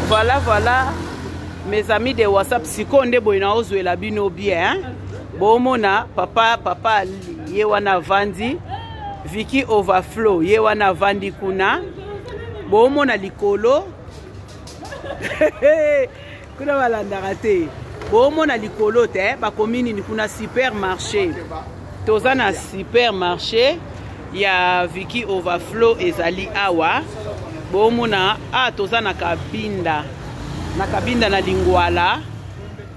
voilà voilà mes amis de whatsapp sikoyo nde boye naozwela bino bien hein? bomona papa papa ye wana avandi viki overflow ye wana avandi kuna bomona likolo kuna balandaka te bomona likolo te eh, bakomi nini kuna supermarché toza na supermarché ya viki overflow ezali awa bomona a ah, toza na kabinda na kabinda na lingwala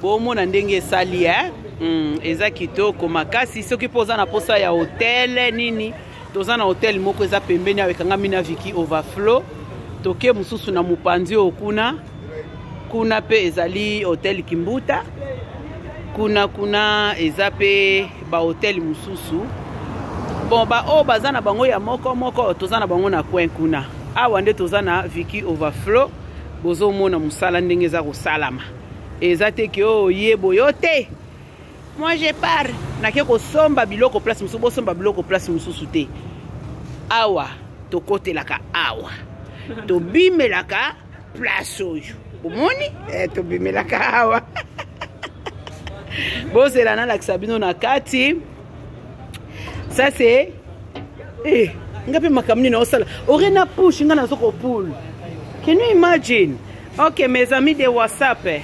bomona ndenge esali e eh? mm, eza kitoko makasi soki mpo oza na mposa ya hotele nini toza na hotel moko eza pembeni awa ekangami na viki overflow toke mosusu na mopanzi oyo kuna kuna mpe ezali hotel kimbuta kuna kuna eza mpe bahotel mosusu bon baoyo baza na bango ya moko moko toza na bango na coin kuna awa nde toza na viki overflow bozomona mosala ndenge eza kosalama eza te ke oyo oh, ye boyo te moi je pars nake kosomba biloko place mosusu bosomba biloko place mosusu te awa tokotelaka awa tobimelaka place oyo omoni eh, tobimelaka awa bozela nalakisa bino na kati ça c'est eh, nga mpe makambo nini osala ore na pushe nga nazo kopule can you imagine ok mes amis de whatsapp eh.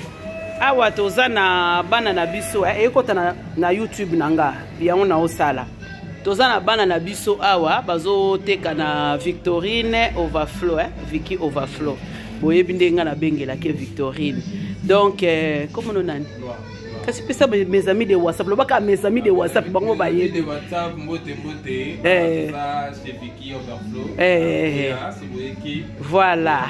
awa toza na bana na biso eh, ekota na, na youtube na nga yango naosala toza na bana na biso awa bazoteka na victorine overflow eh? viki overflow boyebi ndenge nga nabengelaki victorine donc eh, komono nani kasi pesa mes amis de whatsapp lobaka mes amis de whatsapp bango bayebi eh. eh. voilà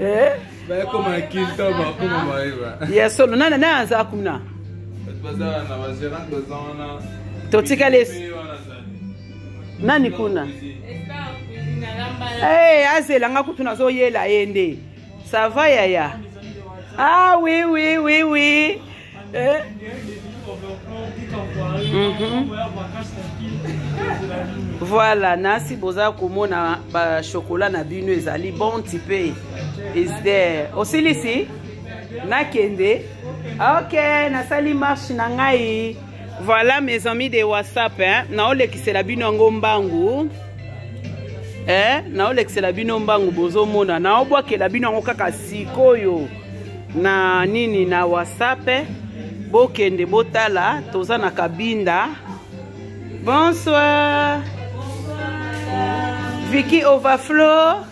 eh? ya solo nani nani aza kuna totikali nani kuna hey, eh, azela nga kutu nazoyela ye nde sava yaya ah oui oui oui oui Eh? Mhm. voilà nasi boza komona bachokola na bino ezali bon tipe is there osilisi nakende ok nasali marche na ngai voilà mes amis de whatsapp eh? naolekisela bino yango mbangu eh? naolekisela bino mbangu bozomona naobwakela bino yango kaka sikoyo na nini na whatsapp bokende botala toza na kabinda bonsoir vicky overflow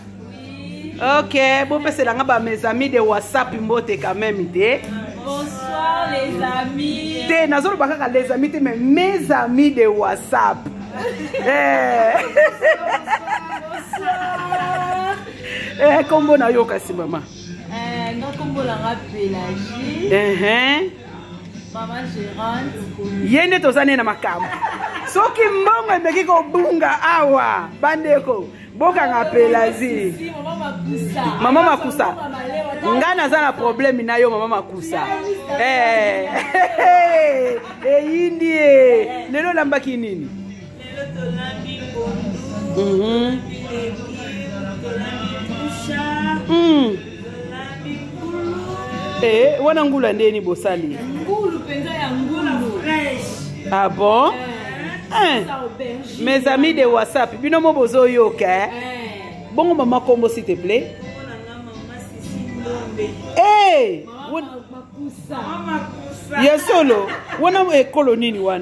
ok bopesela nga bames amis de whatsapp mbote quand même te bonsoir les amis te nazoloba kaka les amis te mais mes amis de whatsapp eh. eh, kombo nayoka si mama Eh, nga kombo na nga pelagie ehe mama gerante ye nde toza ne na makambo soki mbongo emeki kobunga awa bandeko bokanga pelagie Si, mama makusa mama makusa Mama malewa, ta- nga naza na probleme na yo mama makusa Eh, eyindi ye lelo olambaki nini Eh, wana ngulu ya ndeni bosali ngulu mpenza ya ngulu fresh ah bon eh. Eh. mes amis de whatsapp bino mo bozoyoka eh. bongo mama kombo s'il te plaît hey! ya solo wana ekolo nini wana